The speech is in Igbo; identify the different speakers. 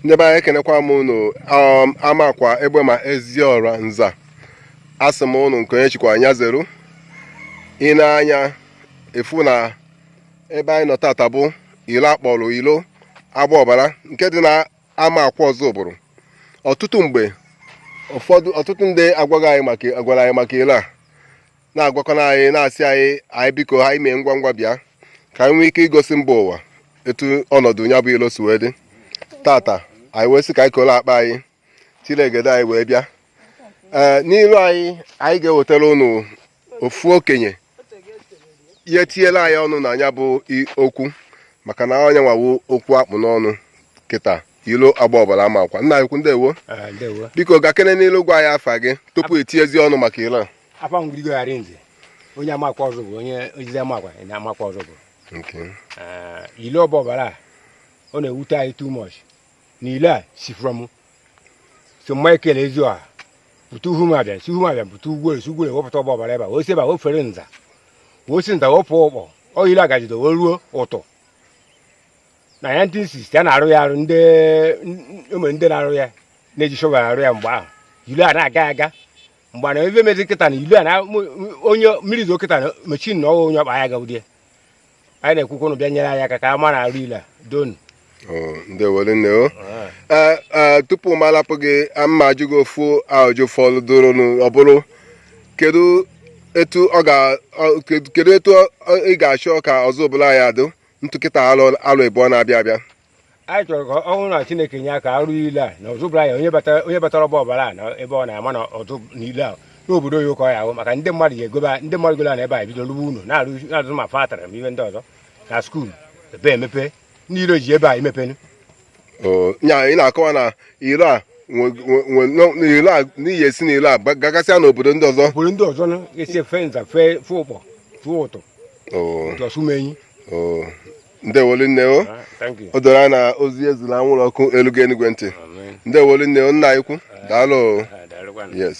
Speaker 1: ndị be anyị ekenekwa m unu um, amakwa egbema eziọra nza asị m unu nke onye chikwa nya zeru ị nee anya ị fụ na ebe anyị nọ tata bụ ilo akpọrọ ilo agba ọbara nke dị na amakwa ọzụbụlụ ọtụtụ mgbe ụfọdụ ọtụtụ ndị agwaghị anyị maka agwara anyị maka ilo a na-agwakọna anyị na-asị anyị anyị biko anyị mee ngwa ngwa bịa ka anyị nwee ike igosi mba ụwa etu ọnọdụ ya bụ ilo si wee dị tata anyị wee sị ka anyị koro akpa anyị chịlị egede anyị wee bịa ee n'ilu anyị anyị ga-ewetara ụnụ ofu okenye ya-etinyela anyị ọnụ na ya bụ okwu maka na ọ nya nwa wụ okwu akpụ n'ọnụ kịta ilo agba ọbara amakwa nna ikwu ndewo ah, biko gakene n'ilu gwa anyị afa gị tupu etinyezi ọnụ maka ilo a afa m gregory
Speaker 2: arịnze onye amakwa ọzụbụlụ onye ozizi amakwa na amakwa ọzụbụlụ Okay. Eh, ilo ọgba ọbara a ọ na-ewute anyị too much na ilo a si from saint michael eziọra pụta uhu m abịa si uhu m abịa pụta ugwuorie si ugwuorie wee pụta ọgba ọbara ebe a o si ebe a fere nza wee si nza wee pụ ụkpọ ọ ilo a gajide wee ruo ụtụ na 1960 a na-arụ ya arụ ndị ụmụ ndị na-arụ ya na-eji shọvel arụ ya mgbe ahụ ilo a na-aga aga mana ebe mezi kịta na ilo a na onye mmiri zo kịta na machine na ọ wụ onye ọkpa ya gaudie anyị na-ekwu ka ụnụ bịa nyere anyị aka ka a mara arụ ilo a doonu ndewo
Speaker 1: rinne o Ee, ee, tupu m alapụ gị m ma-ajụ gị ofu ajụjụ fọdụrụnụ ọ bụrụ kedu etu ọ ga ọ- kedu- kedu etu ọ- ị ga-achọ ka ọzụbụlụ ya adụ etu kịta arọ arọ ịbụọ na-abịa abịa anyị chọrọ
Speaker 2: ka ọ bụrụ na chineke nye aka a rụọ ilo a na ọzụbụlụ anyị onye batara onye batara ọgba ọbara a na ebe ọ na-ama na ọzụ na ilo a na obodo oyibo ka ọ ya-awụ maka ndị mmadụ ya-egobe ndị mmadụ golo ana ebe a bido rụwa ụnọ na-arụ na-arụzi ma factory ma ihe ndị ọzọ na skuul ebe emepe ndị iro ji ebe a emepenu
Speaker 1: Oo, nya ị na-akọwa na ilo a nwe- nwe- nwe- no- na ilo a n'ihi esi na ilo a gba- gagasịa n'obodo ndị ọzọ obodo ndị ọzọ na esi efe nza
Speaker 2: fee fụ ụkpọ fụ ụtụ Oo, jee ọsụmenyi oo.
Speaker 1: ndewo rinne o o doro anya na ozi e zili anwụrụ ọkụ elugo enuigwe ntị ndewo rinne o nna ikwu daalụ yes